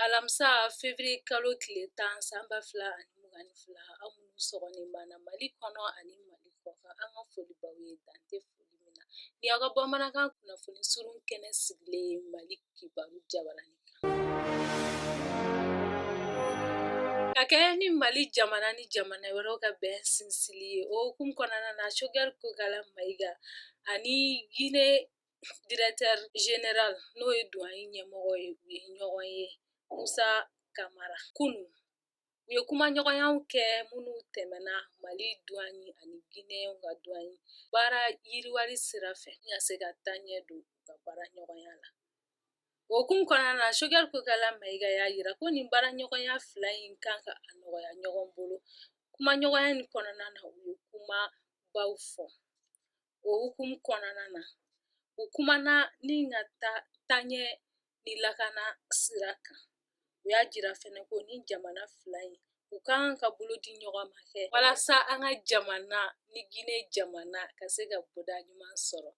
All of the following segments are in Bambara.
Alamisa février kalo tile tan san ba fila ani mugan ni fila aw minnu sɔgɔlen b'an na mali kɔnɔ ani mali kɔkan an ka foli b'aw ye dan tɛ foli min na ni aw ka bamanankan kunnafoni surun kɛnɛ sigilen ye mali kibaru jabaranin kan ka kɛɲɛ ni mali jamana ni jamana wɛrɛw ka bɛn sinsinli ye o hukumu kɔnɔna na Choguel kokala mayiga ani gine Directeur général n'o ye douane ɲɛmɔgɔ ye u ye ɲɔgɔn ye musa kamara kunun u ye kumaɲɔgɔnyaw kɛ minnu tɛmɛna mali douane ani gine ka douane baara yiriwali sira fɛ ni ka se ka taɲɛ don u ka baara ɲɔgɔnya la o hukumu kɔnɔna na Choguel kokala mayiga y'a yira ko nin baara ɲɔgɔnya fila in kan ka a nɔgɔya ɲɔgɔn bolo kumaɲɔgɔnya in kɔnɔna na u ye kumabaw fɔ O hukumu kɔnɔna na u kumana ni ka taa taɲɛ ni lakana sira kan u y'a jira fɛnɛ ko ni jamana fila in u ka kan ka bolo di ɲɔgɔn ma kɛ walasa an ka jamana ni Gine jamana ka se ka bɔda ɲuman sɔrɔ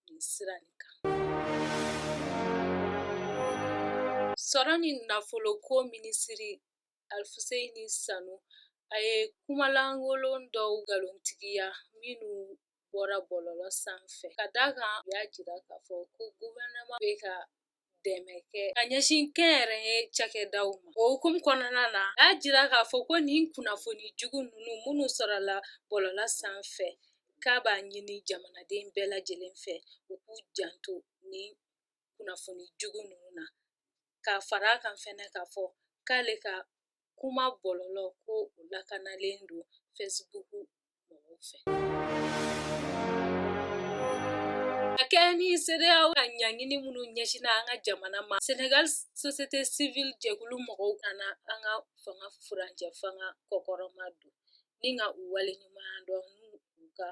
nin sira nin kan sɔrɔ ni nafoloko minisiri Alifuseni Sanu, a ye kuma lankolon dɔw nkalontigiya minnu bɔra bɔlɔlɔ sanfɛ, ka d'a kan u y'a jira k'a fɔ ko gouvernement bɛ ka dɛmɛ kɛ ka ɲɛsin kɛnyɛrɛye cakɛdaw ma. O hukumu kɔnɔna na, a y'a jira k'a fɔ ko nin kunnafoni jugu ninnu minnu sɔrɔla bɔlɔlɔ sanfɛ, k'a b'a ɲini jamanaden bɛɛ lajɛlen fɛ, u k'u janto nin kunnafoni jugu ninnu na ka fara a kan fɛnɛ k'a fɔ k'ale ka kuma bɔlɔlɔ ko o lakanalen don fɛsibuku mɔgɔw fɛ a kɛɲɛ ni sedeyawo ka ɲangini minnu ɲɛsinna an ka jamana ma senegal société civile jɛkulu mɔgɔw ka na an ka fanga furancɛ fanga kɔkɔrɔma don ni ka u waleɲumandɔn n'u ka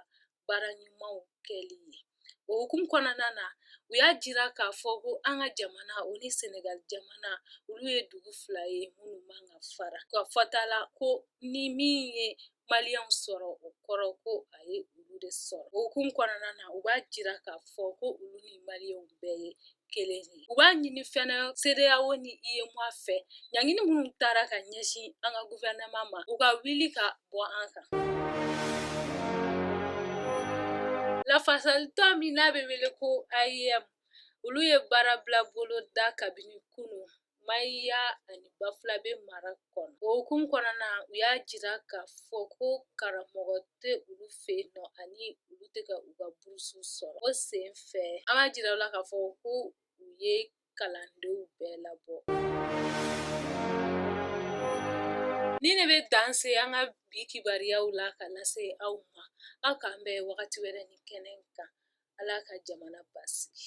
baara ɲumanw kɛli ye o hukumu kɔnɔna na u y'a jira k'a fɔ ko an ka jamana o ni sɛnɛgali jamana olu ye dugu fila ye minnu man ka fara ka fɔta la ko ni min ye maliyɛnw sɔrɔ o kɔrɔ ko a ye olu de sɔrɔ o hukumu kɔnɔna na u b'a jira k'a fɔ ko olu ni maliyɛnw bɛɛ ye kelen ye u b'a ɲini fɛnɛ sedeyawo ni UEMOA fɛ ɲangini minnu taara ka ɲɛsin an ka guvɛrɛnɛma ma u ka wuli ka bɔ an kan lafasalitɔn min n'a bɛ wele ko AEEM olu ye baara bila boloda kabini kunu Mahina ani Bafulabɛ mara kɔnɔ o hukumu kɔnɔna u y'a jira k'a fɔ ko karamɔgɔ tɛ olu fɛ yen nɔ ani olu tɛ ka u ka burusu sɔrɔ o sen fɛ an b'a jira aw la k'a fɔ ko u ye kalandenw bɛɛ labɔ nin de bɛ dan se an ka bi kibaruyaw la ka lase aw ma aw k'an bɛn wagati wɛrɛ nin kɛnɛ kan ala ka jamana basigi